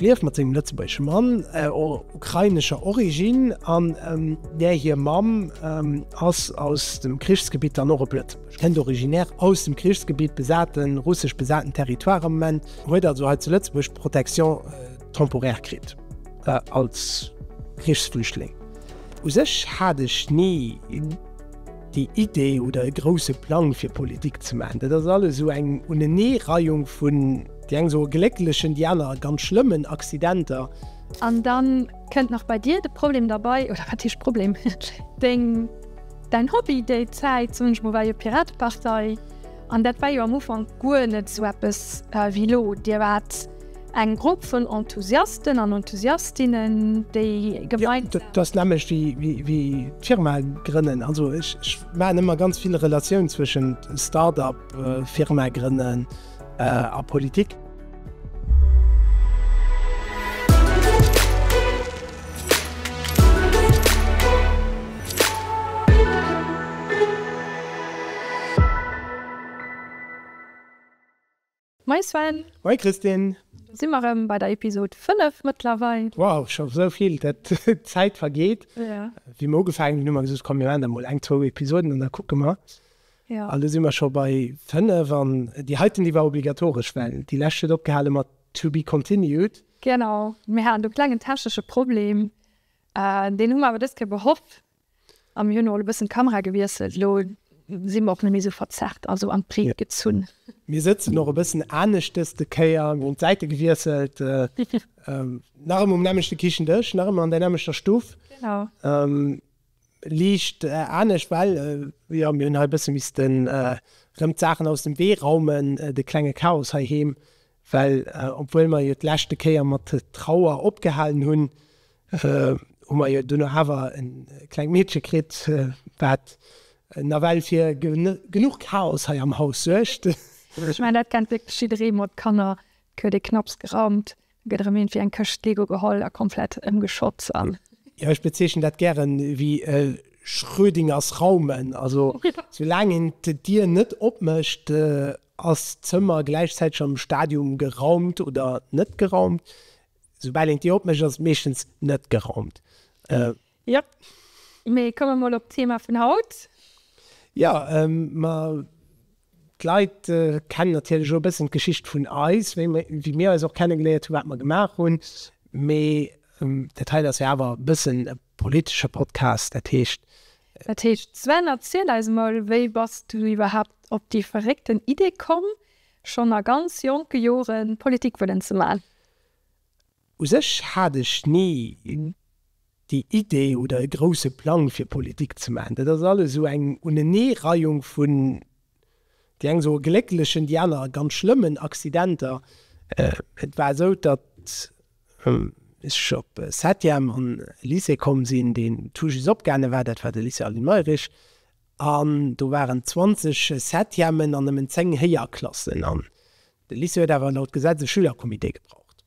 Lief mat sengem lëtzebuergesche Mann ukrainescher Originn an där hir Mamm ass aus dem Krichsgebitt dann och op Lëtzebuerg. Kënnt originär aus dem Krichsgebitt, besate russesch besaten Territoire am Moment, huet also hei zu Lëtzebuerg d'Protection temporaire kritt als Krichsflüchtling. U sech hat ech ni déi Idee oder e grousse Plang fir Politik ze maachen. Dat ass alles esou eng Uneneereihung vun. Déi eng soe glécklechen, déi aner ganz schlëmmen Accidenter. An da kënnt nach bei dir de Problem derbei, oder wat heescht Problem, deng, däin Hobby déi Zäit. Soen ech mol, war jo d'Piratepartei an dat war jo am Ufank guer net esou eppes wéi elo. Dir waart eng Grupp vun Enthusiasten an Enthusiastinnen, déi gemeinsam. Jo, dat ass nämmlecht wéi, wéi d'Firma grënnen. Also ech maachen ëmmer ganz vill Relatioun zwëschent Start-up, Firma grënnen. a Politik. Moin Sven! Moin Christine! Do si mer rëm bei der Episode 5 mëttlerweil. Wow, scho sou vill! D'Zäit vergeet. Wéi mer ugefaangen hunn, hu mer gesot, komm, mir maachen der mol eng, zwou Episoden an da kucke mer. An du si mer scho bei 5. An déi heiten, déi war obligatoresch, well déi lescht huet opgehale mat To be continued. Genau. Mir haten do e klengen technesche Problem. Deen hu mer awer dës Kéier behoff. A mir hunn emol e bëssen d'Kamera gewiesselt. Elo si mer och net méi esou verzerrt, also an d'Breet gezunn. Mir sëtzen och e bëssen anescht dës de Kéier. Mir hunn d'Säite gewiesselt. Nach ëmmer um nämmlechte Kichendësch, nach ëmmer an där nämmlechter Stuff. Genau. Liicht anescht, well jo mir hunn hei e bësse misste rëm d'Saachen aus dem Wee raumen, de klenge Chaos heiheem, well obwuel mer jo d'leschte Kéier mat Trauer opgehalen hunn, hu mer jo duerno awer e klengt Meedche kritt, wat nawell fir genuch Chaos hei am Haus suergt. Ech mengen, dat kennt wierklech jidderee mat Kanner, et gëtt ee knapps geraumt. Gëtt erëm iergendwéi eng Këscht Lego geholl a komplett ëmgeschott an. Jo, ech bezeechnen dat gären wéi Schrödingers Raumen. Also sou laang een d'Dier net opmécht, ass d'Zëmmer gläichzäiteg am Stadium geraumt oder net geraumt. Soubal een d'Dier opmécht, ass et meeschtens net geraumt. Jop, mee komme mer mol op d'Thema vun haut. Jo, ma d'Leit kennen natierlech och e bëssen d'Geschicht vun eis, wéi mir eis och kennegeléiert hunn, wat mer gemaach hunn. Mee dat heien ass jo awer e bëssen e politesche Podcast, dat heescht. Dat heescht, Sven, erziel eis emol, wéi bass du iwwerhaapt op déi verréckten Idee komm, schonn a ganz jonke Joren Politik wëllen ze maachen? U sech hat ech ni déi Idee oder e grousse Plang fir Politik ze maachen. Dat ass alles esou eng Uneneereihung vun, déi eng soe glécklechen, déi aner ganz schlëmmen Accidenter. Et war esou, datt ech op Septième an e Lycée komm sinn, deen tout just opgaange war, dat war de Lycée Aline Mayrisch. An do waren 20 Septièmen an nëmmen 10 Héierklassen. An de Lycée huet awer laut Gesetz e Schülercomité gebraucht.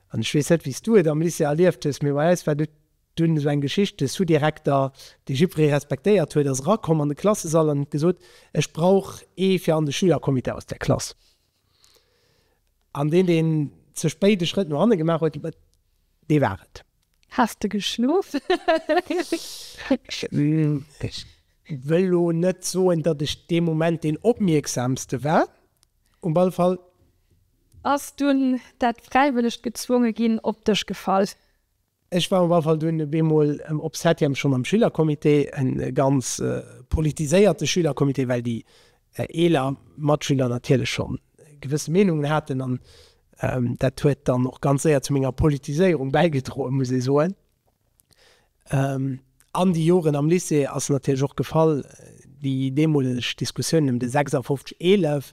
An ech weess net, wéi s du et am Lycée erlieft hues, mee bei eis war do dunn esou eng Geschicht, de Sous-Direkter, dee jippweree respektéiert huet, ass erakomm an de Klassesall an huet gesot, Ech brauch ee fir an de Schülercomité aus der Klass. An deen, deen ze spéit e Schrëtt no hanne gemaach huet, dee war et. Has de geschlof? Ech wëll elo net soen, datt ech dee Moment deen Opmierksamste war. Um all Fall. Ass dunn dat fräiwëllegt gezwonge ginn op dech gefall? Ech war um all Fall dunn bemol op Septième scho mam Schülercomité, e ganz politiséierte Schülercomité, well déi eeler Matschüler natierlech scho gewësse Meenungen haten an dat huet dann och ganz séier zu menger Politiséierung bäigedroen, muss ee soen. An déi Joren am Lycée ass natierlech och gefall déi deemoleg Diskussioun ëm de 56 11.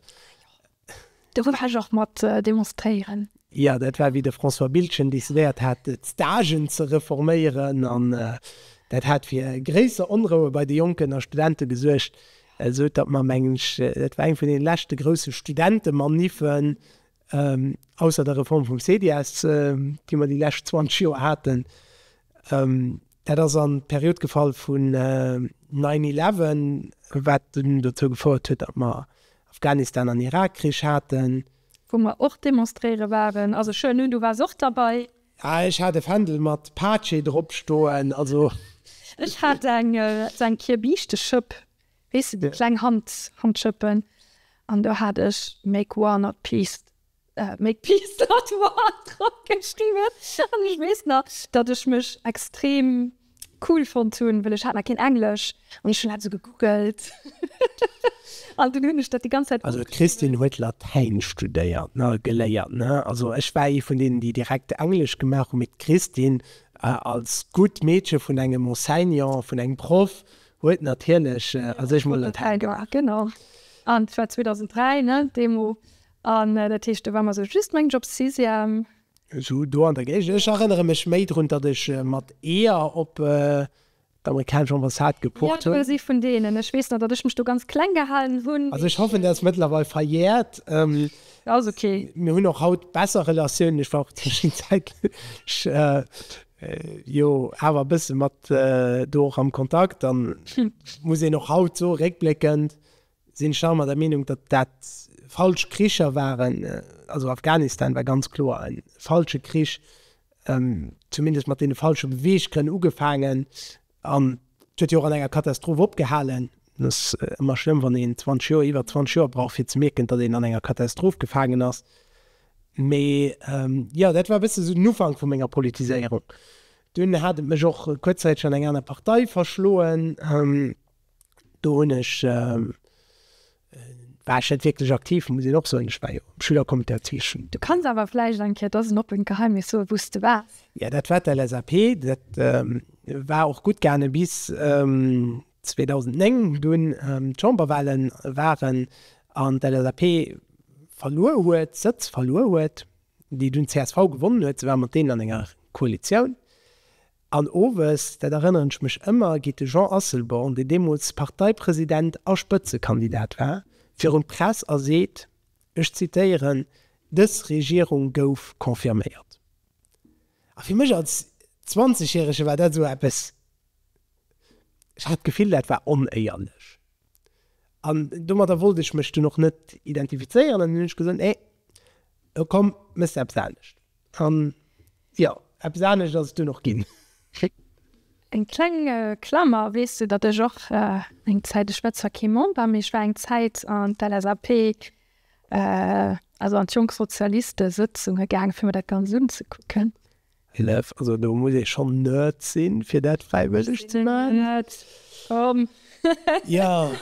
Do war ech och mat demonstréieren. Jo, dat war wéi de François Biltgen decidéiert hat d'Stagen ze reforméieren an dat hat fir gréisser Onroue bei de Jonken a Studente gesuergt, esou datt mer mengen ech et war eng vun deene leschte grousse Studentemaniffen. Ausser der Reform vum CDIS, déi mer déi lescht 20 Joer haten, dat ass an d'Period gefall vun nine eleven, wat dunn dozou gefouert huet, datt mer Afghanistan an Irakkrich haten. Wou mer och demonstréiere waren, also ech huelen un, du waars och derbäi. Ah, ech hat e Fändel mat Pace dropstoen, also. Ech hat eng Kirbiischte Schëpp. Weess de, déi kleng Handschëppen. An do hat ech make war not peace, make peace not war drop geschriwwen. An ech weess nach, datt ech mech extrem cool fonnt hunn, well ech hat nach keen Englesch an ech hunn dat esou gegoogelt. An dunn hunn ech dat déi ganz Zäit. Also d'Christine huet Latäin studéiert, ne, geléiert, ne. Also ech war ee vun deenen, déi direkt Englesch gemaach hunn, mee d'Christine als gutt Meedche vun engem Enseignant, vun engem Proff, Huet natierlech a sech mol dat hell gemaach. Genau. An et war 2003, ne, deemo. An dat heescht, do war mer esou just, mengen ech, op Sixième. Esou do an der Géigend. Ech erënnere mech méi drun, datt ech mat Eeër op d'amerikanesch Ambassade gepocht hunn. Jo, du si vun deenen. Ech weess nach, datt ech mech do ganz kleng gehalen hunn. Also ech hoffen, dat ass mëttlerweil verjäert. Ass ok. Mir hunn och haut besser Relatiounen. Ech war och déi Zäit, ech. Jo, awer e bësse mat do och am Kontakt. An muss een och haut soen, réckbléckend sinn ech nach ëmmer der Meenung, datt dat falsch Kricher waren. Also Afghanistan war ganz kloer e falsche Krich, zumindest mat deene falsche Beweeggrënn ugefaangen. An et huet jo och an enger Katastroph opgehalen. Et ass ëmmer schlëmm, wann een 20 Joer, iwwer 20 Joer brauch, fir ze mierken, datt een an enger Katastroph gefaangen ass. Mee jo, dat war e bësse esou den Ufank vu menger Politiséierung. Dunn hat et mech och kuerzzäiteg an eng aner Partei verschloen. do hunn ech, war ech net wierklech aktiv, muss een och soen. Ech war jo am Schülercomité an zwee Schulen. Du kanns awer vläicht eng Kéier, dat ass en oppent Geheimnis, soen, wou s de waars. Jo, dat war d'LSAP. Dat war och gutt gaangen bis 2009, wou dunn d'Chamberwahle waren an d'LSAP verluer huet, Sëtz verluer huet, déi dunn d'CSV gewonnen huet. Si war mat deenen an enger Koalitioun. An owes, dat erënneren ech mech ëmmer, geet de Jean Asselborn, deen deemools Parteipresident a Spëtzekandidat war, virun d'Press a seet, ech zitéieren, Dës Regierung gouf confirméiert. A fir mech als Zwanzegjärege war dat esou eppes, ech hat d'Gefill, dat war onéierlech. An domadder wollt ech mech dunn och net identifizéieren an hunn ech gesot, nee, komm, méchs eppes anescht. Jo, eppes anescht ass et dunn och ginn. Eng kleng Klammer, Weess du, datt ech och eng Zäit, ech war zwar kee Member, mee ech war eng Zäit an d'LSAP, also an d'Jonk Sozialiste Sëtzunge gaangen, fir mir dat Ganzt unzekucken. Elef, Also do muss ee schonn Nerd sinn, fir dat fräiwëlleg ze maachen. Nerd, komm. Jo.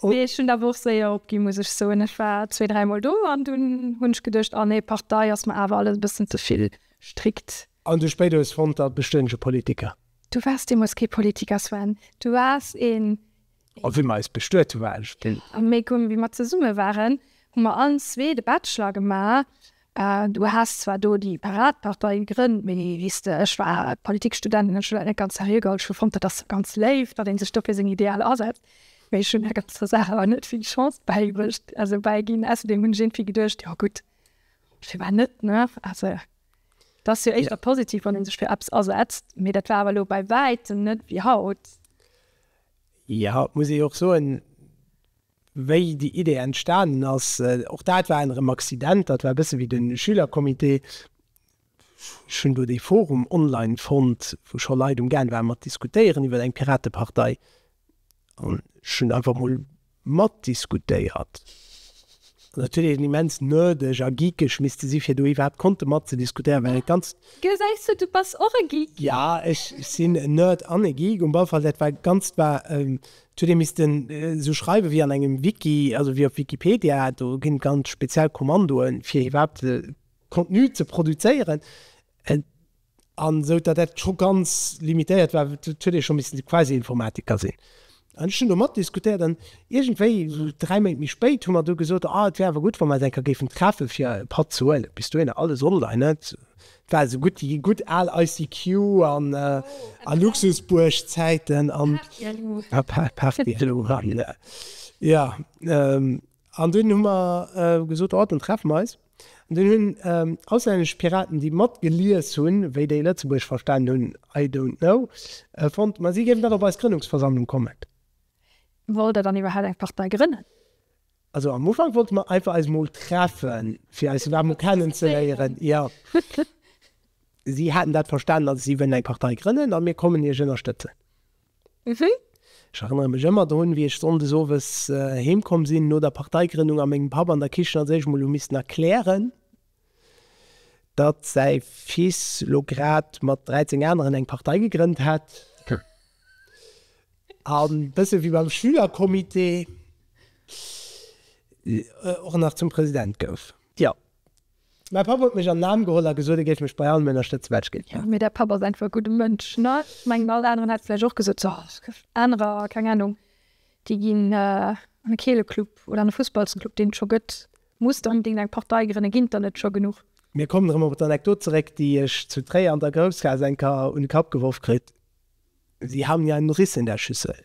Oh jee, ech hunn der awer och séier opginn, muss ech soen. Ech war zwee, dräi Mol do an dunn hunn ech geduecht, oh nee, Partei ass mer awer alles e bëssen ze vill strikt. An du spéider hues fonnt, dat bestënn ech e Politiker. Du waars deemools kee Politiker, Sven. Du waars een. A wéi mer eis bestuet hu war ech deen. Am Méi Gumm. Wéi mer zesumme waren, hu mer allen zwee de Bachelor gemaach Du has zwar do déi Paradpartei gegrënnt, mee wéis de, ech war Politikstudentin, ech hunn dat net ganz seriö geholl, ech hu fonnt, dat ass ganz léif, datt ee sech do fir seng Idealer asetzt, mee ech hunn där ganzer Saach awer net vill Chance bäigebuecht, also bäiginn. Ausserdeem hunn ech iergendwéi geduecht, jo gutt, firwat net, ne? Also et ass jo éischter positiv, wann ee sech fir eppes asetzt, mee dat war awer elo bei wäitem net wéi haut. Jo, et muss ee jo och soen, wéi déi Idee entstanen ass, och dat war erëm Accident, dat war e bësse wéi de Schülercomité. Ech hunn do dee Forum online fonnt, wou scho Leit um Gaang ware mat diskutéieren iwwer eng Piratepartei an ech hunn einfach mol matdiskutéiert. Ass natierlech en immens nerdeg a geekeg misste si fir do iwwerhaapt konnte matzediskutéieren, well et ganz. Gesäis du, du bass och e Geek. Jo, ech sinn en Nerd an e Geek. Um Ballfall, dat war ganz, war Zudeem misst en esou schreiwe wéi an engem Wiki, also wéi op Wikipedia. Do ginn et ganz speziell Kommandoe fir iwwerhaapt Contenu ze produzéieren. An esou datt dat scho ganz limitéiert war, huet ee scho missen de Quasi-Informatiker sinn. An ech hunn do matdiskutéiert an iergendwéi esou dräi Méint méi spéit hu mer du gesot, ah et wär awer gutt wa mer eis eng Kéier géifen treffe fir e Patt ze huelen. Bis dohinner alles online, net? War esou gutt déi gutt al ICQ an a Luxusbuerg-Zäiten an jo an dunn hu mer gesot oh dann treffe mer eis an dunn hunn auslännesch Piraten déi mat gelies hunn wéi déi Lëtzebuerg verstanen hunn I don't know fonnt ma si géifen dann op eis Grënnungsversammlung kommen. Wollt der dann iwwerhaapt eng Partei grënnen? Also am Ufank wollte mer einfach eis mol treffen, fir eis iwwerhaapt mol kennenzeléieren. Jo, si haten dat verstanen, also si wëllen eng Partei grënnen a mir kommen Iech ënnerstëtzen. Ech erënnere mech ëmmer drun, wéi ech sonndes owes heemkomm sinn no der Parteigrënnung a mengem Papp an der Kichen als éischt mol hu missten erklären, datt säi Fils lo grad mat 13 aneren eng Partei gegrënnt hätt, an bësse wéi beim Schülercomité och nach zum President gouf. Jo, mäi Papp huet mech an den Aarm geholl a gesot, e géif mech bei allem ënnerstëtzen, wat ech gelies hätt. Mee däi Papp ass einfach e gudde Mënsch, ne? Ech mengen, all aneren hätte vläicht och gesot, jo, anerer, keng Anung, déi ginn an e Keeleclub oder an e Fussballsclub, deen et scho gëtt. Muss der onbedingt eng Partei grënne? Ginn d'der net scho genuch? Mir kommen erëm op d'Anekdot zeréck, déi ech zu Tréier an der Groussgaass eng Kéier un de Kapp geworf kritt, Sie haben ja einen Riss in der Schüssel.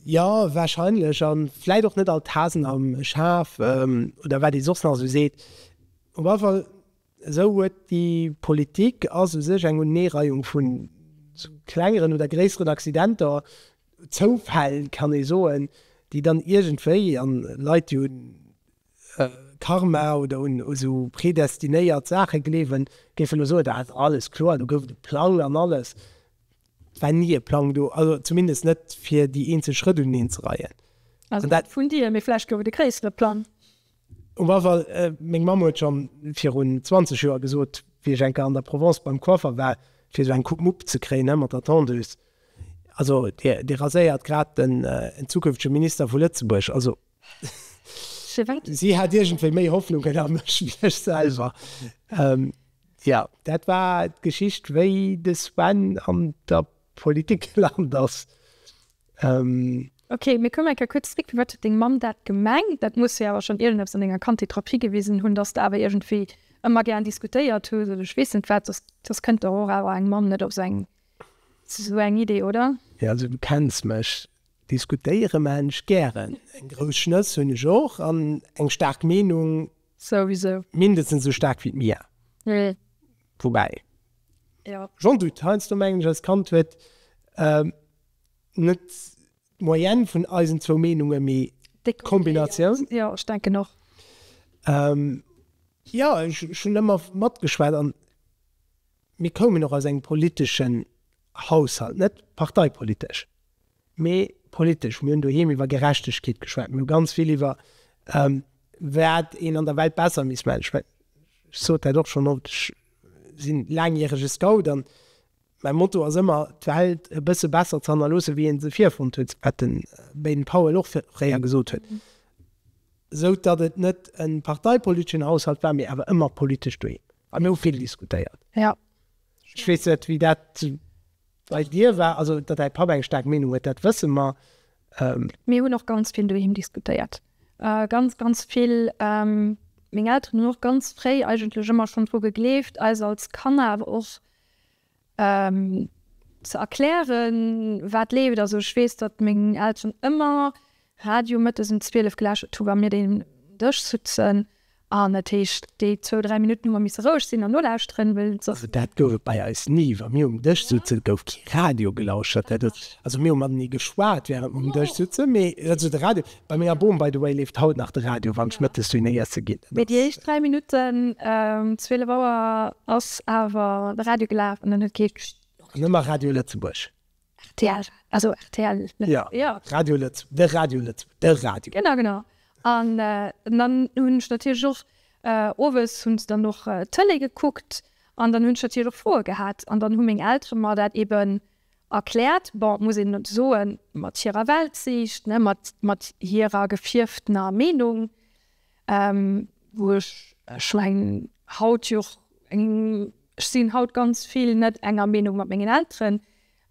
Jo, warscheinlech, a vläit och net all d'Hasen am Schaf, oder wat ee soss nach esou seet. Op alle Fall, esou huet déi Politik ass u sech eng Uneereihung vun esou klengeren oder gréisseren Accidenter, Zoufäll kann ee soen, déi dann iergendwéi, an Leit déi un Karma oder un esou predestinéiert Saache gleewen, géife lo soen, dat ass alles kloer, do gouf et e Plang an alles. Et war ni e Plang do, also zumindest net fir déi eenzel Schrëtt unenzereien. Also net vun dir, mee vläicht gouf et e gréissere Plang? Um Afall, meng Mamm huet schon virun 20 Joer gesot, wéi ech eng Kéier an der Provence beim Coiffer war, fir sou eng Coupe Mupp ze kréien, hä, mat der Tondeuse, Also, Dir raséiert grad den zukünftege Minister vu Lëtzebuerg. Also, si hat iergendwéi méi Hoffnungen a mech wéi ech selwer. Jo, dat war d'Geschicht, wéi de Sven an der Politik Land ass. Ok, mir kommen eng Kéier kuerz zréck. Firwat huet deng Mamm dat gemengt? Dat muss jo awer schonn iergendepps an denger Kandheet drop higewisen hunn, dass de awer iergendwéi ëmmer gären diskutéiert hues oder ech weess net wat. Soss kënnt der och awer eng Mamm net op esou eng Idee, oder? Jo, also du kenns mech, diskutéiere maachen ech gären. Eng grouss Schnëss hunn ech och an eng staark Meenung souwisou. Mindestens esou staark wéi d'Mia. Woubäi. Jo. Jean Dutt, Heiansdo mengen ech, als Kand huet net d'Moyenne vun eisen zwou Meenunge méi d'Kombinatioun. Jo, ech denken och. Jo, ech hunn ëmmer matgeschwat an mir koumen och aus engem politeschen Haushalt, net parteipolitesch. Mee politesch, mir hunn doheem iwwer Gerechtegkeet geschwat, mir hu ganz vill iwwer wat een an der Welt besser misst maachen. Ech mengen, ech sot dat och schonn oft, ech si laangjärege Scout an mäi Motto ass ëmmer, d'Welt e bësse besser ze hannerloossen, wéi ee se virfonnt huet, wat de Baden Powell och fréier gesot huet, esou datt et net e parteipoliteschen Haushalt war, mee awer ëmmer politesch doheem. A mir hu vill diskutéiert. Jo. Ech weess net, wéi dat bei dir war. Also, datt däi Papp eng staark Meenung huet, dat wësse mer. Mir hunn och ganz vill doheem diskutéiert. Ganz, ganz vill. Meng Elteren hunn och ganz fréi eigentlech ëmmer schonn dru gegleeft, eis als Kanner awer och. ze erklären wat leeft. Also ech weess datt meng Elteren ëmmer Radio mëttes um 12 gelauschtert hu wa mir den Dësch sutzen an dat heescht déi zwou 3 Minutten hu mer misse roueg sinn an nolauschteren, well soss. Also dat gouf et bei eis ni. Wa mir um Dësch sutzen gouf kee Radio gelauschtert. Dat huet also mir hu matenee geschwat während mer um Dësch sutzen, mee also de Radio Bei menger Bom, by the way, leeft haut nach de Radio, wann ech mëttes dunne iesse ginn. Mee déi éischt 3 Minutten um 12 Auer ass awer de Radio gelaf an en huet kee gest. An ëmmer Radio Lëtzebuerg. Rtl, also rtl. Jo, jo. Radio Lëtz, de Radio Lëtz, de Radio. Genau, genau. An dann hunn ech natierlech och, owes hunn se dann och d'Tëlee gekuckt an dann hunn ech natierlech och Froe gehat an dann hu meng Eltere mer dat eeben Erkläert, bon, muss een soen, mat hirer Weltsiicht, mat hirer gefierftener Meenung, wou ech, ech mengen, haut jo och eng, ech sinn haut ganz vill net enger Meenung mat mengen Elteren,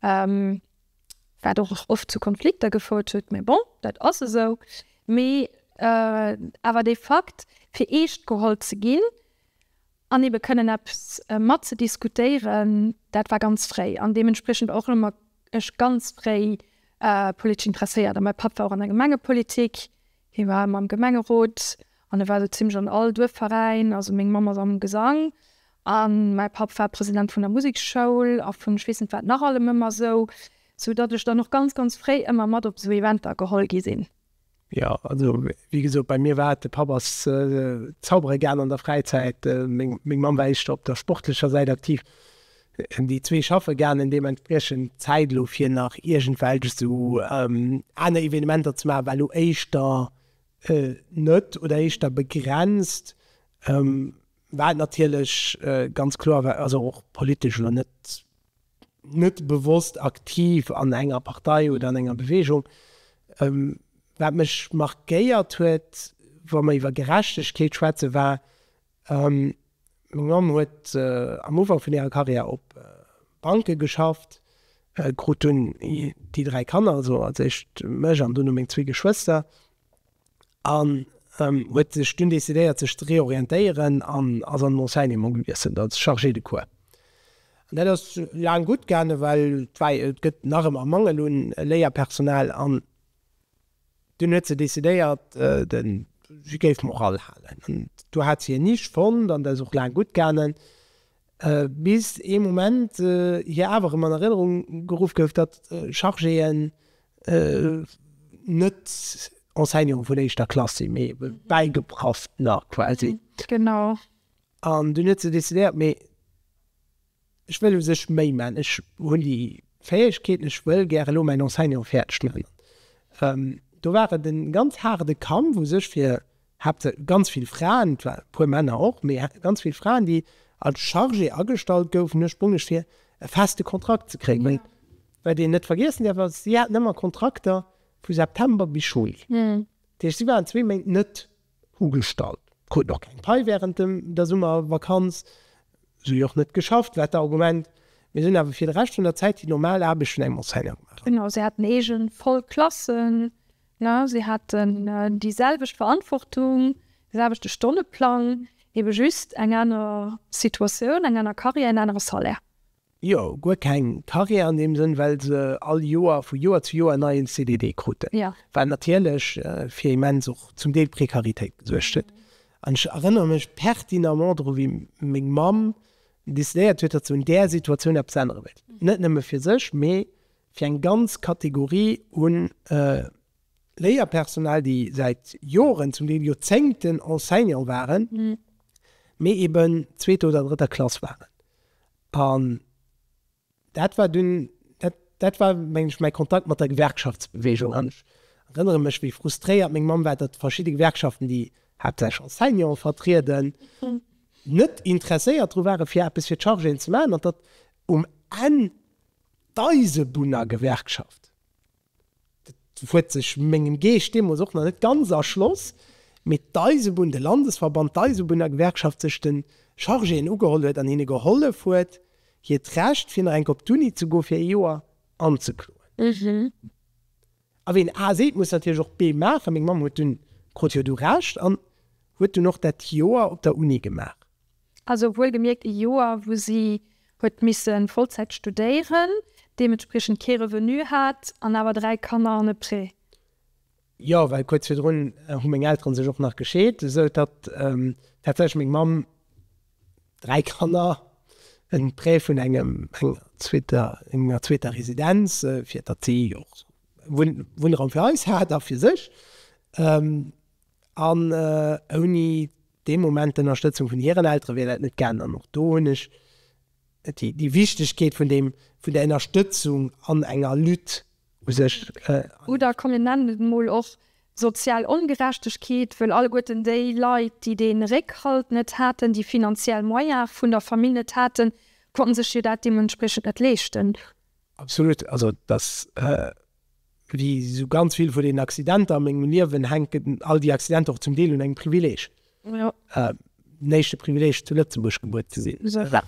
wat och oft zu Konflikter gefouert huet, mä bon, dat ass esou. Mee awer dee Fakt, fir eescht geholl ze ginn, an ebe kënnen eppes mat ze diskutéieren, dat war ganz fréi an deementspriechend och elo mat ech ganz fréi politesch interesséiert a mäi Papp war och an der Gemengepolitik, hie war ëmmer am Gemengerot an e war esou zimmlech an all Duerfveräin, also meng Mamm ass am Gesang a mäi Papp war President vun der Museksschoul a vun ech weess net wat nach allem ëmmer esou, sou datt ech dann och ganz ganz fréi ëmmer mat op esou Eventer geholl gi sinn. Jo, also wéi gesot, bei mir war et, de Papp ass zaubere gaangen an der Fräizäit, meng Mamm war éischter op der sportlecher Säit aktiv, déi zwee schaffe gaangen. Deementspriechend d'Zäit elo fir nach iergendwelch esou aner Evenementer ze maachen, war elo éischter net oder éischter begrenzt, wat natierlech ganz kloer war, also och politesch elo net net bewosst aktiv an enger Partei oder an enger Bewegung. Wat mech markéiert huet, wa mer iwwer Gerechtegkeet schwätzen, war, meng Mamm huet am Ufank vun hirer Karriär op Banke geschafft, krut dunn déi dräi Kanner, also als éischt mech an duerno meng zwee Geschwëster. an huet sech dunn decidéiert sech ze reorientéieren an ass an den Enseignement gewiesselt als Chargé de cours. An dat ass laang gutt gaangen, well et war et gëtt nach ëmmer Mangel un Léierpersonal an dunn huet se decidéiert si géif Morale halen an do hat si en Nisch fonnt an dat ass och laang gutt gaangen. Bis ee Moment hir awer rëm an Erënnerung geruff gouf, datt Chargéen net Enseignantë vun éischter Klass sinn, mee Bäigeprafftner quasi. Genau. An dunn huet se decidéiert, Mee ech wëll u sech méi maachen. Ech hunn déi Fäegkeeten, ech wëll gär elo mäin Enseignement fäerdeg maachen. Do war et e ganz haarde Kampf u sech fir Hate ganz vill Fraen, e puer Männer och, mee hate ganz vill Fraen, déi als Chargé agestallt goufen, duerch Bongech, fir e feste Kontrakt ze kréien. Well wat een net vergiessen däerf ass, si haten ëmmer Kontrakter vu September bis Juli. Dat heescht, si waren zwee Méint net ugestallt, kruten och keng Pai wärend der Summervakanz, esou jo och net geschafft, war d'Argument, mee si hunn awer fir de Rescht vun der Zäit déi normal Aarbecht vun engem Enseignant gemaach. Genau, si haten eege voll Klassen, Na, si haten déi selwecht Verantwortung, de selwechte Stonneplang, ebe just eng aner Situatioun, eng aner Carrière, en anere Salaire. Jo, guer keng Carrière an deem Sënn, well se all Joer, vu Joer zu Joer, en neien CDD kruten, wat natierlech fir immens och zum Deel Prekaritéit gesuergt huet. An ech erënnere mech pertinemment dru wéi meng Mamm decidéiert huet, datt se un där Situatioun eppes ännere wéilt, net nëmme fir sech, mee fir eng ganz Kategorie u Léierpersonal, déi säit Joren, zum Deel Joerzéngten Enseignant waren, mee eben zweeter oder drëtter Klass waren. An dat war dunn, dat war, mengen ech, mäi Kontakt mat der Gewerkschaftsbeweegung. An ech erënnere mech, wéi frustréiert meng Mamm war, datt verschidde Gewerkschaften, déi haaptsächlech Enseignanten vertrieden, net interesséiert dru ware fir eppes fir d'Chargéen ze maachen an datt um Enn D'Eisebunnergewerkschaft, dat huet sech mengem Geescht deemools och nach net ganz erschloss, mee d'Eisebunn, de Landesverband, d'Eisebunnergewerkschaft sech de Chargéen ugeholl huet an hinne gehollef huet, hiert Recht, fir nach eng Kéier op d'Uni ze goen, fir ee Joer anzekloen. A ween A seet, muss natierlech och B maachen. Meng Mamm huet dunn, krut jo du Recht an huet dunn och dat Joer op der Uni gemaach. Also wuel gemierkt e Joer, wou si huet misse Vollzäit studéieren, deementspriechend kee Revenu hat an awer dräi Kanner an e Prêt. Jo, well kuerz virdrun hu meng Elteren sech och nach gescheet, esou datt tatsächlech meng Mamm dräi Kanner, en Prêt vun engem, enger zweeter, enger zweeter Residenz, fir datt si och Wunnraum fir eis hat a fir sech, an ouni dee Moment d'Ënnerstëtzung vun hiren Eltere wier dat net gaangen. An och do hunn ech déi Wichtegkeet vun deem, vun der Ënnerstëtzung an enger Lutte u sech. Oder komm mir nennen et emol och sozial Ongerechtegkeet, wëll alleguerten déi Leit, déi dee Réckhalt net haten, déi finanziell Moyene vun der Famill net haten, konnten sech jo dat deementspriechend net leeschten. Absolut. Also dass Wéi esou ganz vill vun den Accidenter a mengem Liewen hänken all déi Accidenter och zum Deel un engem Privileeg, den éischte Privileeg zu Lëtzebuerg gebuer ze sinn,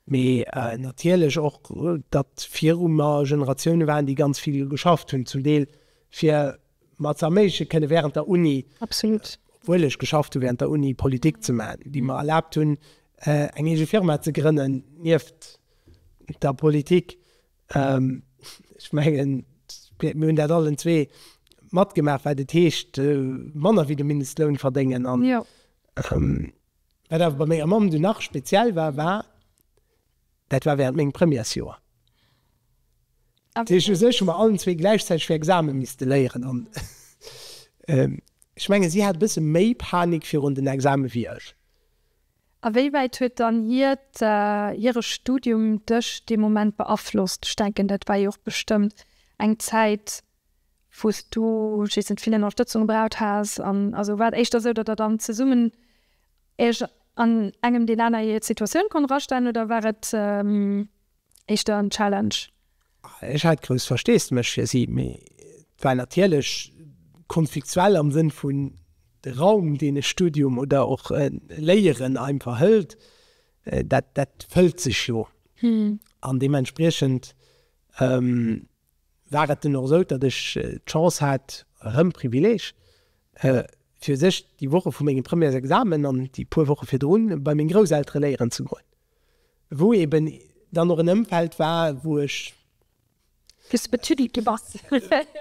mee natierlech och, datt viru mer Generatioune waren, déi ganz vill geschafft hunn, zum Deel fir mer ze erméigleche kënnen wärend der Uni, obwuel ech geschafft hu wärend der Uni, Politik ze maachen, déi mer erlaabt hunn eng eege Firma ze grënnen nieft der Politik. Ech mengen, mir hunn dat allen zwee matgemaach, wat et heescht, manner wéi de Mindestloun verdéngen. An wat awer bei menger Mamm dunn nach speziell war, war, dat war wärend mengem Premièresjoer. Dat heescht, u sech hu mer allen zwee gläichzäiteg fir Exame misste léieren. An ech mengen, si hat e bësse méi Panik virun den Exame wéi ech. A wéi wäit huet dann hiert, hire Studium dech dee Moment beaflosst? Ech denken, dat war jo och bestëmmt eng Zäit, wou s du jhistens vill Ënnerstëtzung gebraucht has. An also war et éischter esou, datt Der dann zesummen Iech an engem deen aner hir Situatioun konnt erastellen, oder war et, éischter en Challenge. Ech hat grouss Versteesdemech fir si, mee et war natierlech konfliktuell am Sënn vun de Raum, deen e Studium oder och e Léieren einfach hëlt, dat dat fëllt sech jo. An deementspriechend war et dunn och esou, datt ech d'Chance hat, erëm Privileeg, fir u sech déi Woche vu mengem Premièresexamen an déi puer Woche virdrun bei meng Grousseltere léieren ze goen. Wou eben dann och en Ëmfeld war, wou ech. Wou s de betüddelt gi bass.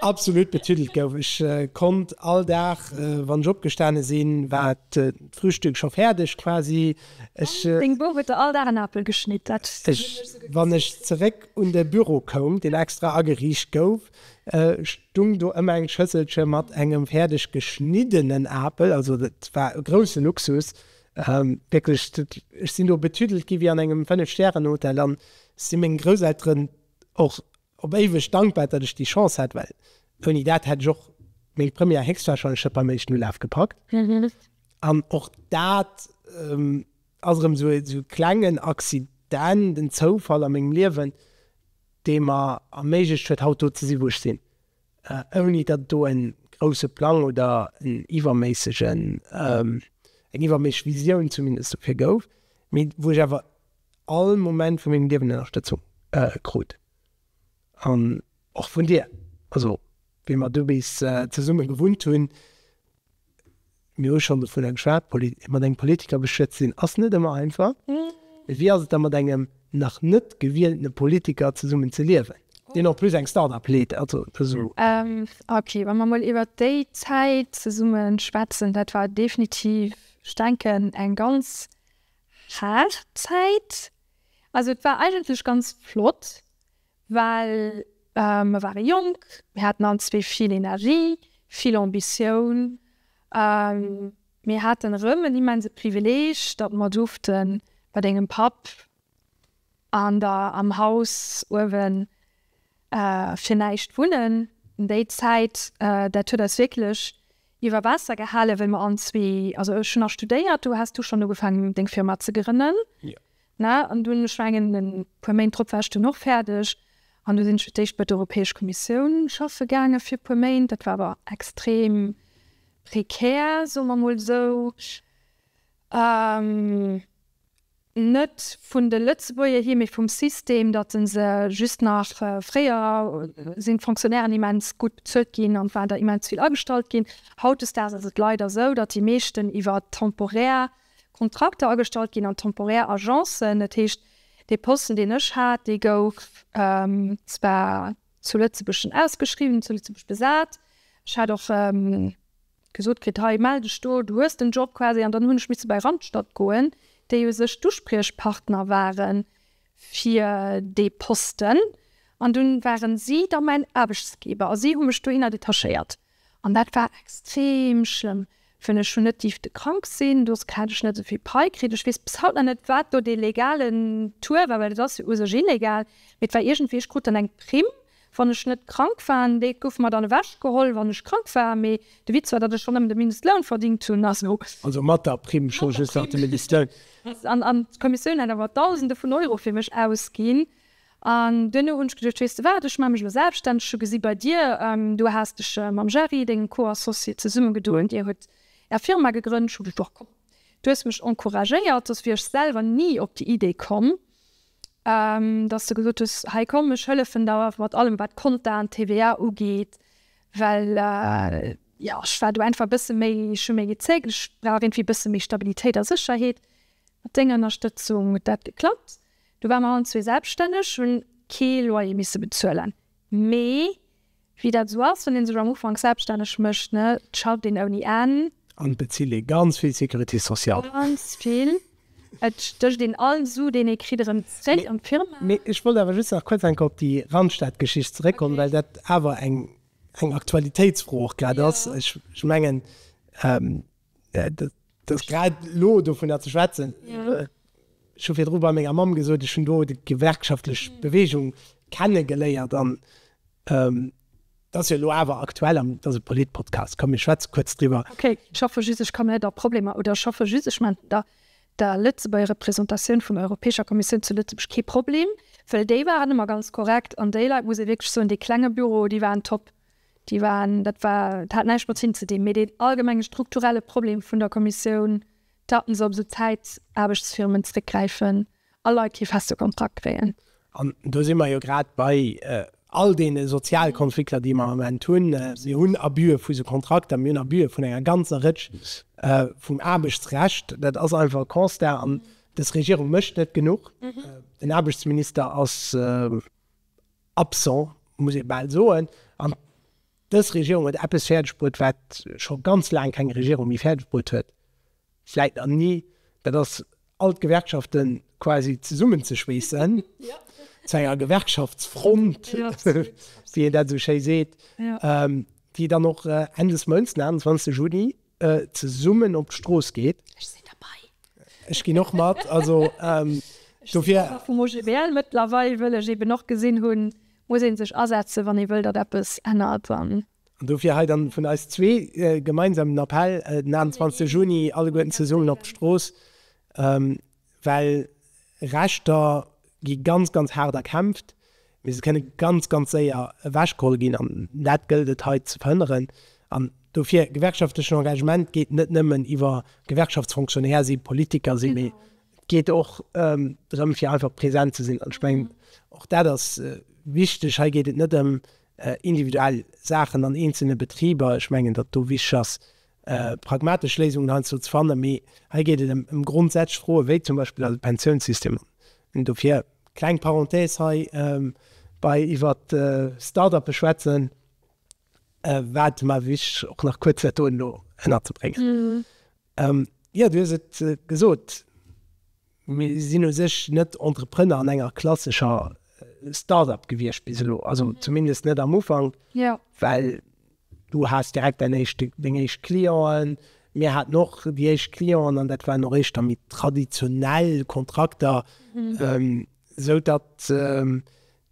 Absolut betüddelt gouf. Ech konnt all Dag, wann ech opgestane sinn, war d'Frühstück scho fäerdeg quasi. Ech. An deng Bouf huet der all Dag en Apel geschnitt. Dat. Ech, wann ech zeréck un de Büro koum, deen extra ageriicht gouf, stung do ëmmer eng Schësselche mat engem fäerdeg geschniddenen Apel. Also dat war e grousse Luxus, Wierklech, ech sinn do betüdelt gi wéi an engem Fënnef-Stären-Hotel an si mengen Grousselteren och op éiweg dankbar, datt ech déi Chance hat, well ouni dat hätt ech och meng Première héchstwahrscheinlech net beim éischten Ulaf gepackt. An och dat ass erëm esou e klengen Accident, en Zoufall a mengem Liewen, dee mer erméiglecht huet, haut do ze sinn, wou ech sinn. ouni datt et do e grousse Plang oder en iwwerméissegen, eng iwwerméisseg Visioun zumindest dofir gouf, mee wou ech awer all Moment vu mengem Liewen Ënnerstëtzung krut an och vun dir, also wéi mer do bis zesumme gewunnt hunn, Mir hu schonn dovun geschwat, mat engem Politiker bestuet ze sinn ass net ëmmer einfach. Mee wéi ass et da mat engem nach net gewieltene Politiker zesummen ze liewen, deen en plus eng Start-up leet? Ok, wa mer mol iwwert déi Zäit zesumme schwätzen, dat war definitiv, ech denken, eng ganz haart Zäit. Also et war eigentlech ganz flott. Well mer ware jonk, mir haten all zwee vill Energie, vill Ambitioun. Mir haten erëm en immense Privileeg, datt mer duerfte bei dengem Papp an der, am Haus uewen fir näischt wunnen. Déi Zäit, dat huet eis wierklech iwwer Waasser gehalen, well mer all zwee, also ech hunn nach studéiert, do has du schonn ugefaangen, deng Firma ze grënnen. Na, an dunn, ech mengen e puer Méint drop war ech dunn och fäerdeg an du sinn ech fir d'éischt bei der Europäesch Kommissioun schaffe gaange fir e puer Méint. Dat war awer extrem prekär, soe mer emol esou. Net vun de Lëtzebuerger hier, mee vum System, datt e se just nach, fréier sinn d'Fonctionnairen immens gutt bezuelt ginn an et waren der immens vill agestallt ginn. Hautdesdaags ass et leider esou, datt déi meeschten iwwer temporaire Kontrakter agestallt ginn an temporär Agencen. Dat heescht, dee Posten, deen ech hat, dee gouf zwar zu Lëtzebuerg schonn ausgeschriwwen, zu Lëtzebuerg besat. Ech hat och gesot kritt, hei mell dech do, du hues den Job quasi. An dann hunn ech misse bei Randstad goen, déi u sech d'Uspriechpartner ware fir dee Posten. An dunn ware si da mäin Aarbechtsgeber a si hu mech dohinner detachéiert. An dat war extrem schlëmm, well ech hunn net dierfte krank sinn, doduerch hat ech net esou vill Pai kritt. Ech weess bis haut nach net, wat do dee legalen Tour war, well et ass jo u sech illegal, mee et war iergendwéi, ech krut dann eng Primm, wann ech net krank war, an déi gouf mer dann ewech geholl, wann ech krank war. Mee de Witz war, datt ech schonn nëmmen de Mindestloun verdingt hunn. Also. Also mat der Primm, scho just nach de Mindestloun. An d'Kommissioun hat awer Dausende vun Euro fir mech ausginn. An duerno hunn ech geduecht, weess de wat, ech maache mech elo selbststänneg. Ech hu gesi bei dir, du has dech mam Gerry, dengem Co-Associé, zesummegedoen, dir hutt är Firma gegrënnt. Ech hu geduecht, Boah, komm, du hues mech encouragéiert, soss wier ech selwer ni op déi Idee komm, datt s de gesot hues, hei komm, ech hëllefen der mat allem, wat Konten, TVA ugeet. Well, jo, ech war do einfach e bësse méi, ech hu méi gezéckt, ech brauch iergendwéi e bësse méi Stabilitéit a Sécherheet. Mat denger Ënnerstëtzung huet dat geklappt. Du war mer allen zwee selbststänneg, hunn kee Loyer misse bezuelen. Mee wéi dat esou ass, wann ee sech am Ufank selbststänneg mécht, ne, et schafft een ouni Enn. An et bezilt ee ganz vill Sécurité sociale. Ganz vill. Et stécht een all Su, deen ee kritt, erëm zréck an d'Firma. Mee ech wollt awer just nach kuerz eng Kéier op déi Randstadgeschicht zeréckkommen, well dat awer eng Aktualitéitsfro och grad ass. Ech mengen. Et ass grad elo, dovunner ze schwätzen, ech hu virdru bei menger Mamm gesot, ech hunn do déi gewerkschaftlech Beweegung kenne geléiert an et ass jo elo awer aktuell an et ass e Polit-Podcast. Komm mir schwätze kuerz driwwer. Okay, ech hoffe just ech kann net a Problemer, oder ech hoffe just ech maachen der der Lëtzebuerger Representatioun vun der Europäescher Kommissioun zu Lëtzebuerg kee Problem, well déi waren ëmmer ganz korrekt an déi Leit, muss ee wierklech soen, dee klenge Büro, déi waren top. Déi waren, dat war, dat hat näischt mat Zinn ze dinn, mee deen allgemenge strukturelle Problem vun der Kommissioun, datt se op esou Zäitaarbechtsfirmen zréckgräifen a Leit kee feste Kontrakt kréien. An do si mer jo grad bei all deene Sozialkonflikter, déi mer am Moment hunn. Mir hunn Abuse vu sou Kontrakter, mir hunn Abuse vun enger ganzer Rëtsch vum Aarbechtsrecht. Dat ass einfach e Constat. An dës Regierung mécht net genuch. Den Aarbechtsminister ass. Absent, muss ee bal soen. An dës Regierung huet eppes fäerdeg bruet, wat scho ganz laang keng Regierung méi fäerdeg bruet huet, vläit nach ni, dat ass, all d'Gewerkschafte quasi zesummenzeschweessen zu enger Gewerkschaftsfront, wéi een dat esou schéi seet, déi dann och Enn des Mounts, den 21 Juni, zesummen op d'Strooss geet. Ech sinn derbei. Ech ginn och mat. Also dofir. Ech sinn Member vum OGBL mëttlerweil, wëll ech eben och gesinn hunn, muss ee sech asetzen, wann ee wëll, datt eppes ännert. An. An dofir hei dann vun eis zwee gemeinsam den Appell, den 28 Juni alleguerten zesummen op d'Strooss. Well Rechter gi ganz, ganz haart erkämpft, mee se kënne ganz, ganz séier ewechgeholl ginn. An dat gëllt et hei ze verhënneren. An dofir, gewerkschaftlechen Engagement geet net nëmmen iwwer Gewerkschaftsfonctionnaire sinn, Politiker sinn, mee et geet och drëm, fir einfach present ze sinn. An ech mengen, och dat ass wichteg. Hei geet et net ëm individuell Saachen an eenzele Betriber. Ech mengen, datt do wichteg ass, pragmatesch Léisungen heiansdo ze fannen, mee hei geet et ëm grondsätzlech Froen, wéi zum Beispill eise Pensiounssystem. An dofir, kleng Parenthèse hei, bei iwwer d'Start-uppe schwätzen, war et mer wichteg, och nach kuerz dat do elo ënnerzebréngen. Jo, du hues et gesot. Mir sinn u sech net Entrepreneur an enger klassescher Start-up gewiescht bis elo, also zumindest net am Ufank, well du has direkt deng éischt Clienten. Mir haten och déi éischt Clienten an dat waren och éischter méi traditionell Kontrakter, esou datt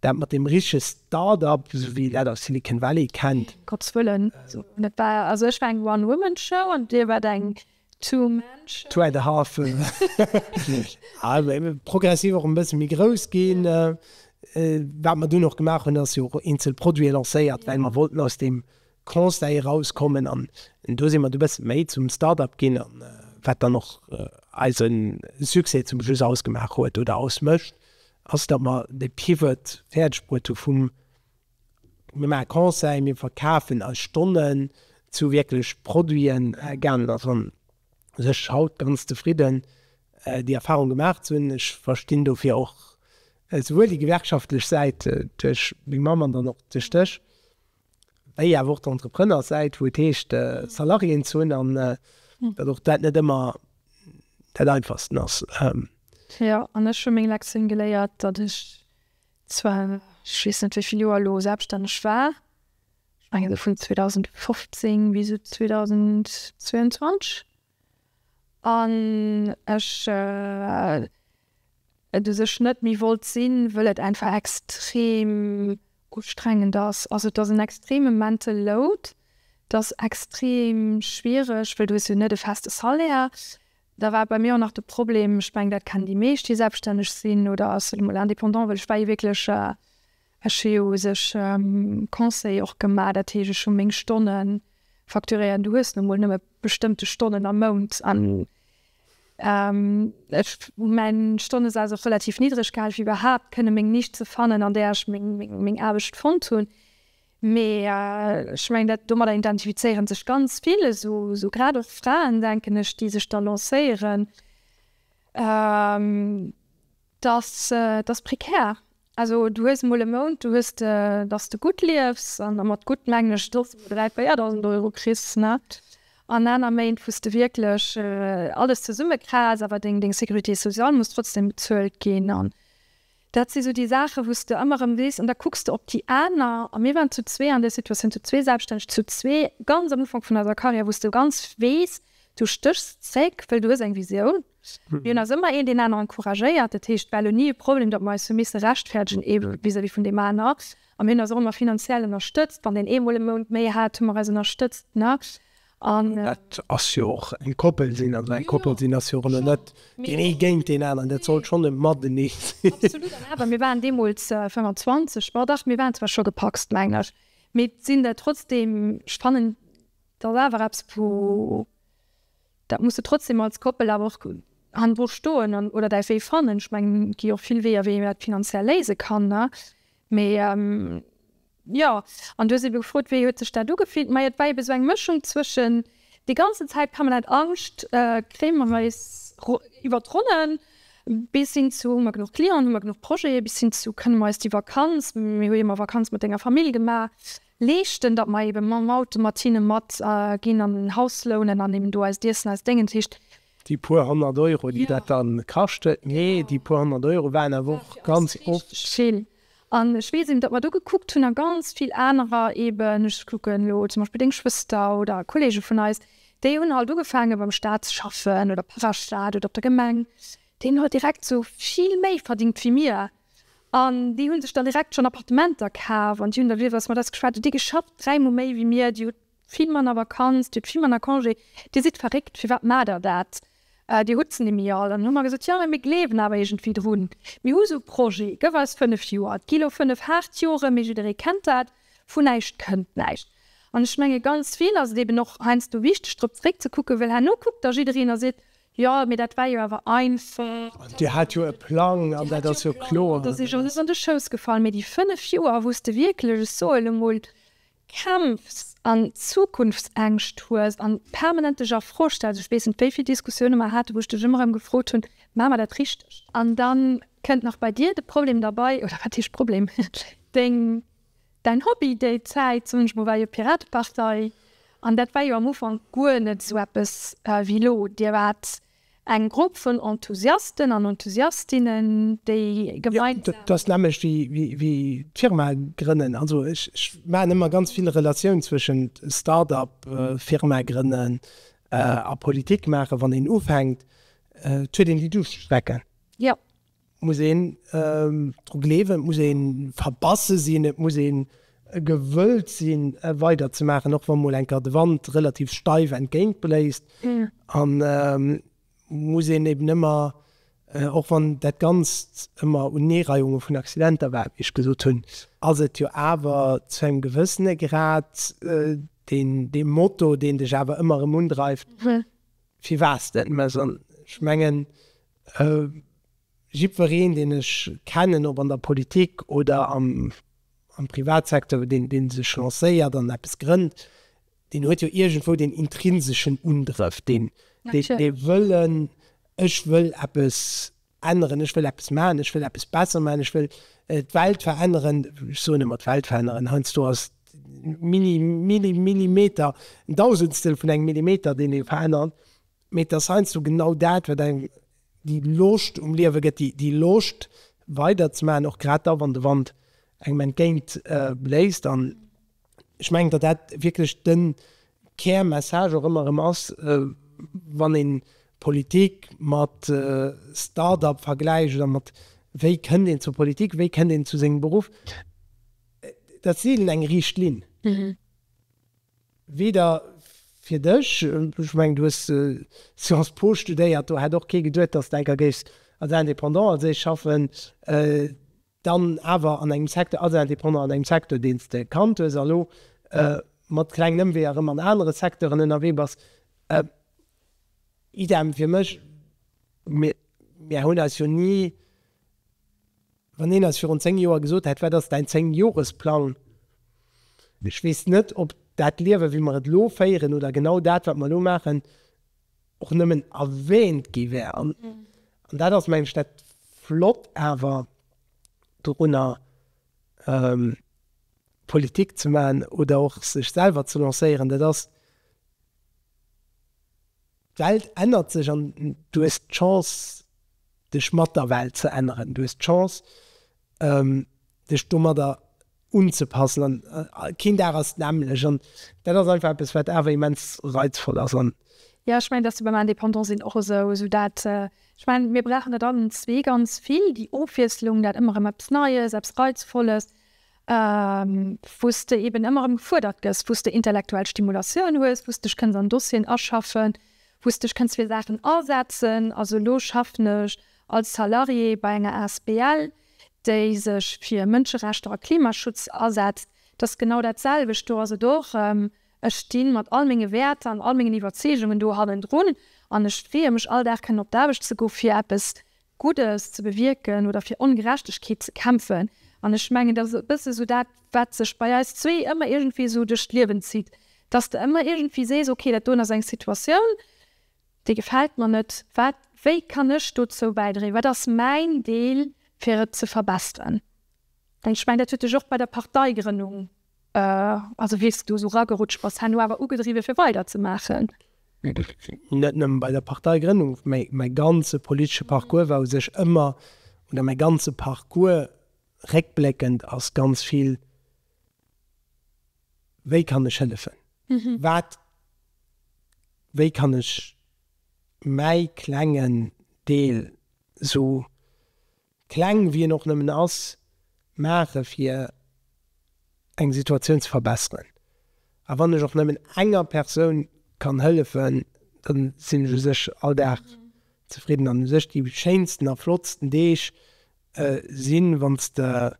dat mat deem richtege Start-up, esou wéi een dat aus Silicon Valley kennt. Ech war eng One-Woman-Show an Dir waart eng Two Menschen. Two and a half. Progressiv och e bësse méi grouss ginn. Wat mer dunn och gemaach hunn, ass jo och eenzel Produite lancéiert, well mer wollten aus deem Conseil erauskommen. An do si mer e bësse méi zum Start-up ginn, wat dann och eise Succès zum Schluss ausgemaach huet oder ausmécht, ass datt mer de Pivot fäerdeg bruet hu vum. Mir maache Conseil, mir verkafen eis Stonnen zu wierklech Produiten. Ganen ass an sech haut ganz zefridden, déi Erfahrung gemaach ze hunn. Ech verstinn dofir och esouwuel déi gewerkschaftlech Säit duerch meng Mamm an dann och duerch dech, wéi awer och d'Entrepreneurssäit, wou et heescht Salariéen ze hunn an datt och dat net ëmmer dat einfachsten ass. Jo, an ech hu meng Lektioun geléiert, datt ech Zwar, ech weess net, wéi vill Joer elo selbststänneg war, ech mengen esou vun 2015 bis esou 2022, an ech et u sech net méi wollt sinn, wëll et einfach extrem ustrengend ass. Also et ass en extreme mental load, t'ass extrem schwiereg, well du hues jo net e feste Salaire, Da war bei mir och nach de Problem, ech meng dat kennen déi meescht déi selbststänneg sinn oder ass et emol indépendant, well ech war jo wierklech, ech hu jo u sech Conseil och gemaach, dat heescht ech hu meng Stonne facturéiert an du hues nu mol nëmme bestëmmte Stonnen am Mount an ech hu mäin Stonnesaz och relativ niddreg gehale fir iwwerhaapt kënne meng Nischt ze fannen an där ech meng Aarbecht fonnt hunn. Mee ech mengen, dat domadder identifizéiere sech ganz vill esou, grad och Fraen, denken ech, déi sech da lancéieren. Dat ass prekär. Also du hues emol e Mount, du hues de, datt s de gutt liefs, an mat gutt mengen ech, datt s de 3.000, 4.000 Euro kriss net, an aner Méint, wou s de wierklech alles zesummekrass, awer deng Sécurité sociale muss trotzdem bezuelt ginn. Dat si sou déi Saachen, wou s de ëmmer erëm sees, an da kucks de op déi aner. A mir waren zu zwee an där Situatioun, zu zwee Selbststänneg, zu zwee ganz am Ufank vun eiser Karriär, wou s de ganz weess, du stéchs zréck, well du hues eng Visioun. Mir hunn eis ëmmer een deen aneren encouragéiert. Dat heescht, war elo ni e Problem, datt mer eis hu misse rechtfäerdegen vis-à-vis vun deem aner. A mir hunn eis och ëmmer finanziell ënnerstëtzt. Wann deen eemol e Mount méi hat, hu mer eis ënnerstëtzt. An dat ass jo och eng Koppel sinn, also eng Koppel sinn ass jo elo net deen ee géint deen aneren, dat sollt schonn e Matenee sinn. Absolut. An awer, mir waren deemools 25, ma dach, mir waren zwar scho gepacst, mengen ech, mee sinn der trotzdeem, ech fannen, et ass awer eppes, wou, dat muss de trotzdeem als Koppel awer och hannendru stoen an oder däi Wee fannen. Ech mengen, et gi och vill Weeër, wéi een dat finanziell léise kann, ne? Mee. Jo, an du hues ebe gefrot, wéi huet sech dat ugefillt? Mei et war ebe sou eng Mëschung zwëschen, déi ganzen Zäit kann mer dat, Angscht, kréie mer eis iwwer d'Ronnen, bis hin zu, hu mer genuch Clienten, hu mer genuch Projete, bis hin zu, kënne mer eis déi Vakanz, mir hu jo ëmmer Vakanz mat denger Famill gemaach, leeschten, datt mer ebe mam Auto mat hinne mat ginn an en Haus lounen an eben do eist Iessen, eist Déngen, dat heescht, Déi puer honnert Euro, déi dat da kascht huet, mee déi puer honnert Euro waren awer och ganz oft. An ech weess eben, datt mer do gekuckt hunn a ganz vill anerer eben, ech kucken elo zum Beispill deng Schwëster oder Kollege vun eis, déi hunn halt ugefaange beim Staat ze schaffen oder Parastaat oder op der Gemeng, déi hunn halt direkt esou vill méi verdingt wéi mir an déi hu sech dann direkt schonn Appartementer kaf an déi hunn da, wéi wëlls mer dat geschwat, déi hu geschafft dräimol méi wéi mir, déi hu Vill manner Vakanz, Dir hutt vill manner Congé. Dir sidd verréckt, firwat maacht Der dat? Dir hutt se nimmi all. An hu mer gesot, Jo, mä mir gleewen awer iergendwéi drun. Mir hu sou Projete, gëff eis fënnef Joer. Et gi lo fënnef haart Jore, mee jidderee kennt dat, Vun näischt kënnt näischt. An ech menge ganz vill ass et eben och heiansdo wichteg, drop zeréckzekucken, well herno kuckt da jiddereen a seet, Jo, mee dat war jo awer einfach. Dir hat jo e Plang an dat ass jo kloer. Dat ass eis alles an de Schouss gefall. Mee déi fënnef Joer, wou s de wierklech, ech soen emol, Kämpfs an Zukunftsängscht hues an permanent dech a Fro stells, ech weess net wéivill Diskussioune mer hate wou ech dech ëmmer erëm gefrot hunn, Maache mer dat richteg? An da kënnt nach bei dir de Problem derbei, oder wat heescht Problem, deng, däin Hobby déi Zäit, soen ech mol, war jo Piratepartei an dat war jo am Ufank guer net esou eppes wéi elo. Dir waart Eng Grupp vun Enthusiasten an Enthusiastinnen, déi gemeinsam. Dat ass nämmlecht wéi d'Firma grënnen. Also ech maachen ëmmer ganz vill Relatioun zwëschent Start-up, Firma grënnen a Politik maachen. Wann een ufänkt, huet een déi Duuschtstrecken. Jo, muss een dru gleewen, et muss ee verbasse sinn, et muss ee gewëllt si weider ze maachen, och wa mol eng Kéier de Wand relativ steif entgéint bléist. An muss een eben ëmmer, och wann dat Ganzt ëmmer Uneereihunge vun Accidenter war, wéi ech gesot hunn, ass et jo awer zu engem gewëssene Grad dee Moto, deen dech awer ëmmer erëm undreift, Firwat s de et méchs? An ech mengen, Jiddwereen, deen ech kennen, ob an der Politik oder am Privatsecteur, dee sech lancéiert an eppes grënnt, deen huet jo iergendwou deen intrinseschen Undrëff, dee Wëllen, ech wëll eppes änneren, ech wëll eppes maachen, ech wëll eppes besser maachen, ech wëll d'Welt veränneren. Ech soen ëmmer d'Welt veränneren, heiansdo ass Millimeter, en Dausendstel vun engem Millimeter, deen ee verännert. Mee et ass heiansdo genau dat, wat engem déi Loscht um Liewe gëtt, déi Loscht weiderzemaachen, och grad da wann de Wand engem entgéint bléist. An ech mengen, datt dat wierklech de Kärmessage och ëmmer erëm ass, wann een d'Politik mat Start-up vergläicht oder mat wéi kënnt een zur Politik, wéi kënnt een zu sengem Beruff, dat ass seelen eng riicht Linn. Weder fir dech, ech mengen du hues Sciences Po studéiert, do hätt och kee geduet dass de enker géifs als Indépendant als ech schaffen, dann awer an engem Secteur, als Indépendant an engem Secteur deen s de kannt hues, a elo mat klengen Ëmweeër erëm an anere Secteuren ënnerwee bass. Idem fir mech, mir hunn eis jo ni Wann een eis virun 10 Joer gesot hätt, wat ass däin 10 Joresplang, ech weess net, ob dat Liewe wéi mer et elo féieren oder genau dat wat mer elo maachen och nëmmen erwähnt gi wär. An dat ass mengen ech dat Flott awer dorunner, Politik ze maachen oder och sech selwer ze lancéieren, dat ass, D'Welt ännert sech an du hues d'Chance, dech mat der Welt ze änneren. Du hues d'Chance, dech domadder unzepassen. An keen Dag ass d'nämmlecht. An dat ass einfach eppes, wat awer immens reizvoll ass. An. Jo, ech mengen, et ass jo beim Indépendant sinn och esou. Esou dat, ech mengen, mir brauchen dat allen zwee ganz vill, déi Ofwiesslung, dat ëmmer erëm eppes Neies, eppes Reizvolles. wou s de eben ëmmer erëm gefuerdert gëss, wou s de intellektuell Stimulatioun hues, wou s dech kënns an Dossieren aschaffen, wou s dech kënns fir Saachen asetzen. Also elo schaffen ech als Salarié bei enger Asbl, déi sech fir Mënscherechter a Klimaschutz asetzt. Dat ass genau dat selwecht. Do ass et och erëm, ech sti mat all menge Wäerter an all mengen Iwwerzeegungen do hannendrun an ech freeë mech all Dag kënnen op d'Aarbecht ze goen, fir eppes Guddes ze bewierken oder fir Ongerechtegkeet ze kämpfen. An ech mengen, dat ass e bësse sou dat, wat sech bei eis zwee ëmmer iergendwéi sou duerch d'Liewen zitt, dass de ëmmer iergendwéi sees, ok, dat doen ass eng Situatioun, déi gefält mer net, wat, wéi kann ech dozou bäidréien, wat ass mäin Deel, fir et ze verbesseren? An ech mengen, dat huet dech och bei der Parteigrënnung Also wéi s du esou ragerutscht bass, han du awer ugedriwwe fir weider ze maachen? Net nëmmen bei der Parteigrënnung, mee mäi ganze politesche Parcours war u sech ëmmer, oder mäi ganze Parcours réckbléckend ass ganz vill, wéi kann ech hëllefen, wat, wéi kann ech mäi klengen Deel esou kleng wéi en och nëmmen ass, maache fir eng Situatioun ze verbesseren. A wann ech och nëmmen enger Persoun kann hëllefen, da sinn ech u sech all Dag zefridden. An u sech déi schéinsten a flottsten Deeg sinn, wann s de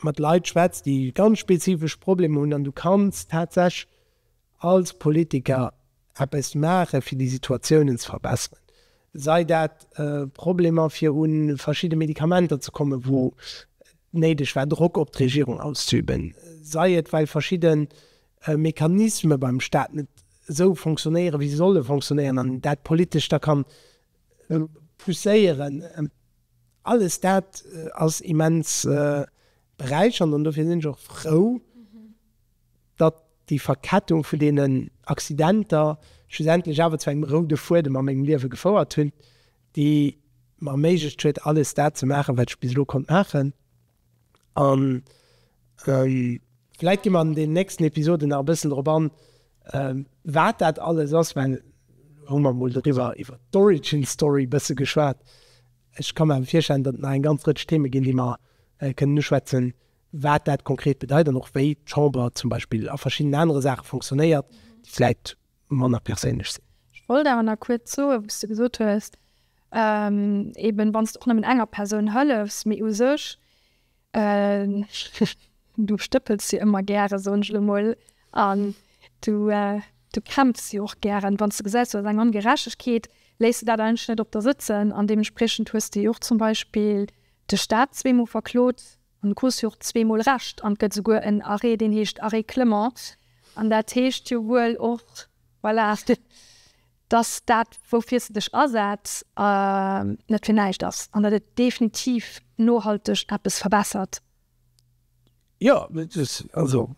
mat Leit schwätz, déi ganz spezifesch Problemer hunn an du kanns tatsächlech, Als Politiker eppes maache fir déi Situatiounen ze verbesseren, sei dat Problemer fir un verschidde Medikamenter ze kommen, wou et néideg war Drock op d'Regierung auszüben, sei et well verschidde Mechanisme beim Staat net esou fonctionnéiere wéi se solle fonctionnéieren an een dat politesch da kann pousséieren, alles dat ass immens beräichernd an dofir sinn ech och frou, datt déi Verkettung vun deenen Accidenter schlussendlech awer zu engem roude Fuedem a mengem Liewe gefouert hunn, déi mer erméiglecht huet, alles dat ze maachen, wat ech bis elo konnt maachen. A vläicht gi mer an deenen nächsten Episoden nach e bëssen drop an, wat dat alles ass, well elo hu mer emol doriwwer, iwwer d'Origin Story e bësse geschwat. Ech ka mer awer virstellen, datt et nach eng ganz Rëtsch Theeme ginn, déi mer kënnen uschwätzen, wat dat konkret bedeit an och wéi d'Chamber zum Beispill a verschiddenen anere Saache fonctionnéiert, déi vläicht manner perséinlech sinn. Ech wollt awer nach kuerz soen, wou s de gesot hues, eeben wann s de och nëmmen enger Persoun hëllefs, mee u sech, du stëppels jo ëmmer gären, soen ech elo emol, an du kämpfs jo och gären, wann s de gesäis, do ass eng Ongerechtegkeet, léiss de dat eigentlech net op der sëtzen an deementspriechend hues de jo och zum Beispill de Staat zweemol verklot, An de Causse jo och zwee mol Recht an et gëtt esouguer en Arrêt, deen heescht Arrêt Clement. An dat heescht jo wuel och, voilà, dass dat, woufir s de dech asetz, net fir näischt ass an datt et definitiv nohalteg eppes verbessert. Jo, also.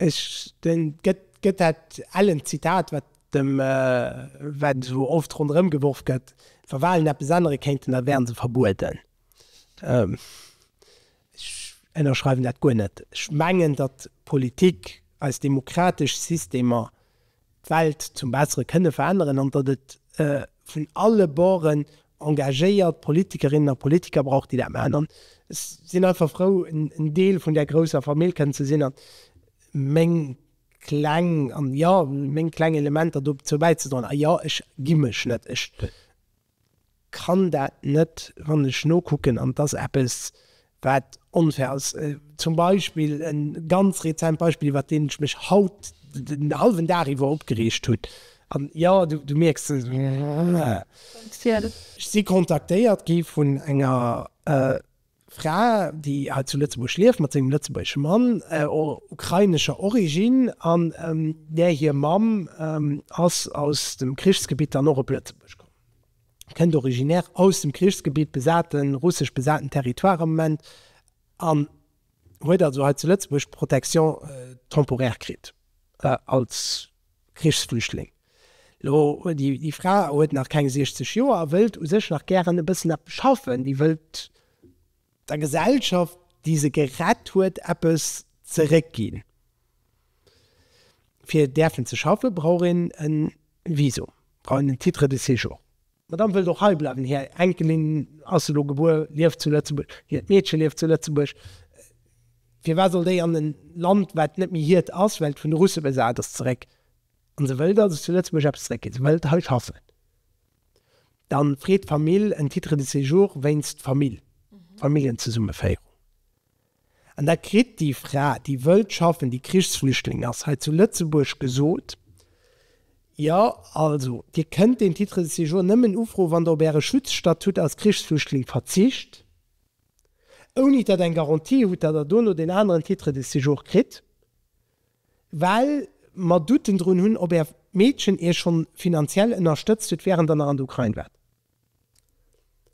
Ech den gëtt dat ellen Zitat, wat dem, wat esou oft ronderëm geworf gëtt, wa Walen eppes ännere kéinten, da wäre se verbueden. Ech ënnerschreiwen dat guer net. Ech mengen, datt d'Politik, eis demokratesch Systemer d'Welt zum Bessere kënne veränneren an datt et vun alle Borden engagéiert Politikerinnen a Politiker brauch, déi dat maachen. An ech sinn einfach frou, en Deel vun där grousser Famill kënnen ze sinn an meng kleng, an jo, meng kleng Elementer dozou bäizedroen. A jo, ech gi mech net. Ech. Kann dat net, wann ech nokucken, an et ass eppes, wat onfair ass, zum Beispill e ganz rezent Beispill, iwwert deen ech mech haut den hallwen Dag iwwer opgereegt hunn, an jo, du mierks et, ech si kontaktéiert gi vun enger Fra, déi hei zu Lëtzebuerg lieft mat sengem lëtzebuergesche Mann, ukrainescher Originn, an där hir Mamm ass aus dem Krichsgebitt dann och op Lëtzebuerg komm, kënnt originär aus dem Krichsgebitt, besate russesch besaten Territoire am Moment, an huet also hei zu Lëtzebuerg Protection temporaire kritt als. Krichsflüchtling. Lo huet déi, déi Fra huet nach keng 60 Joer a wëllt u sech nach gären e bëssen eppes schaffen. Déi wëllt der Gesellschaft, déi se gerett huet, eppes zeréckginn. Fir däerfen ze schaffen, brauch een e Visum, brauch een en Titre de séjour. D'Madame wëllt och hei bleiwen. Hir Enkelin ass elo gebuer, lieft zu Lëtzebuerg. Hiert Meedche lieft zu Lëtzebuerg. Firwat soll déi an e Land, wat net méi hiert ass, well et vun de Russe besat ass, zeréck? An se wëllt also zu Lëtzebuerg eppes zeréckginn. Se wëllt hei schaffen. Da freet d'Famill en Titre de séjour wéinst Famill, Familljenzesummeféierung. An da kritt déi Fra, déi wëllt schaffen, déi Krichsflüchtling ass, hei zu Lëtzebuerg gesot, Jo, also Dir kënnt deen Titre de séjour nëmmen ufroen, wann Der op Äre Schutzstatut als Krichsflüchtling verzicht, ouni datt Der eng Garantie hutt, datt Der dono deen aneren Titre de séjour kritt, well mer Douten drun hunn, ob Är Meedchen Iech schonn finanziell ënnerstëtzt huet, während Der nach an der Ukrain waart.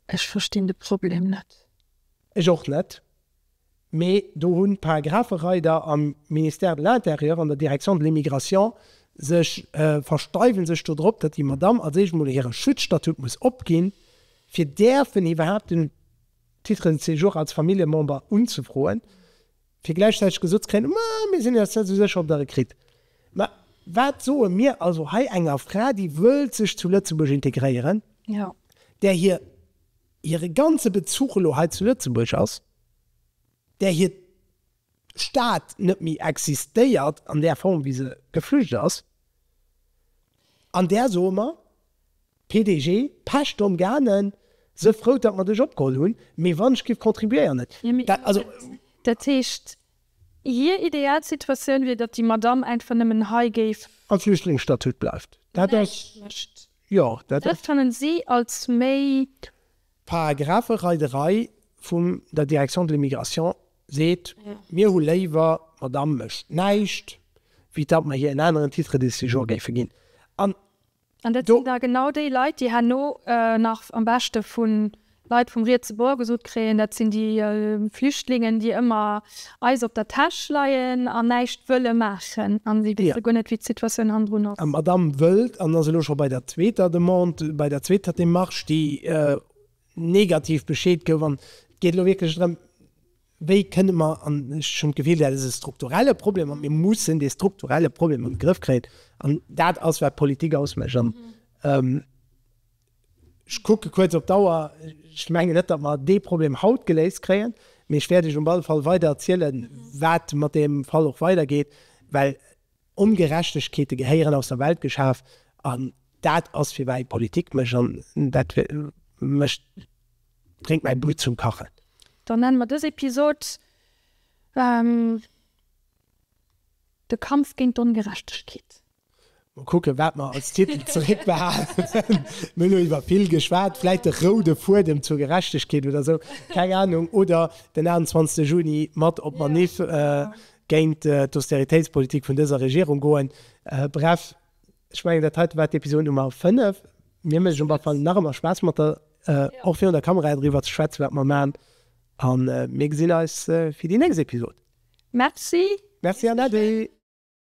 Ech verstinn de Problem net. Ech och net, mee do hunn d'Paragraphereider am Ministère de l'Intérieur an der Direction de l'immigration sech, versteiwen sech do drop, datt déi Madame als éischt mol hire Schutzstatut muss opginn, fir däerfen iwwerhaapt den Titre de séjour als Familljemember unzefroen. fir gläichzäiteg gesot ze kréien, ma mir sinn eis net esou sécher, ob Der e kritt. Ma wat soe mir also hei enger Fra, déi wëllt sech zu Lëtzebuerg integréieren, där hir hire ganze Bezuch elo hei zu Lëtzebuerg ass, där hiert d'Stad net méi existéiert an där Form, wéi se geflücht ass, an där soe mer, PDG, Pech Dom Gane, se frou dat mer dech opgeholl hunn, mee wann ech giff contribuéieren, et dat also. Dat heescht, hir ideal Situatioun wier, datt déi Madamm einfach nëmmen hei géif. Am Flüchtlingsstatut bleift. Dat ass. Näischt mécht. Jo, dat ass. Dat fanne si als méi. Paragraphe Rei de Rei vum der Direction de l'immigration seet, mir hu léiwer, d'Madamm mécht näischt, wéi datt mer hir en aneren Titre de séjour géife ginn. An. An dat sinn da genau déi Leit, déi herno nach am beschte vu Leit vum rietse Bord gesot kréien, dat sinn déi Flüchtlingen, déi ëmmer eis op der Täsch leien an näischt wëlle maachen. A si wësse guer net, wéi d'Situatioun hannendrun ass. D'Madamm wëllt, an ass elo scho bei der zweeter Demande, bei der zweeter Démarche, déi negativ bescheet gouf, an et geet elo wierklech drëm, Wéi kënne mer, an ech hunn d'Gefill, dat ass e strukturelle Problem a mir mussen dee strukturelle Problem an de Grëff kréien an dat ass, wat d'Politik ausmécht. An ech kucke kuerz op d'Auer, ech mengen net, datt mer dee Problem haut geléist kréien, mee ech wäert Iech op alle Fall weider erzielen, wat mat deem Fall och weidergeet, well Ongerechtegkeete gehéieren aus der Welt geschaf an dat ass fir mäi Politik mécht an dat mécht bréngt mäi Blutt zum Kachen. Dann nennen mer dës Episod De Kampf géint d'Ongerechtegkeet. Mol kucken wat mer als Titel zeréck behalen. Mir hunn elo iwwer vill geschwat, vläit de roude Fuedem zur Gerechtegkeet oder sou, keng Ahnung, oder den 28 Juni mat op d'Manif géint d'Austeritéitspolitik vun dëser Regierung goen. Bref, ech mengen dat heiten war d'Episod Nummer 5. Mir mécht et op alle Fall nach ëmmer Spaass mat der, och virun der Kamera, driwwer ze schwätzen wat mer maan an mir gesinn eis fir déi nächst Episod. Merci. Merci an Äddi.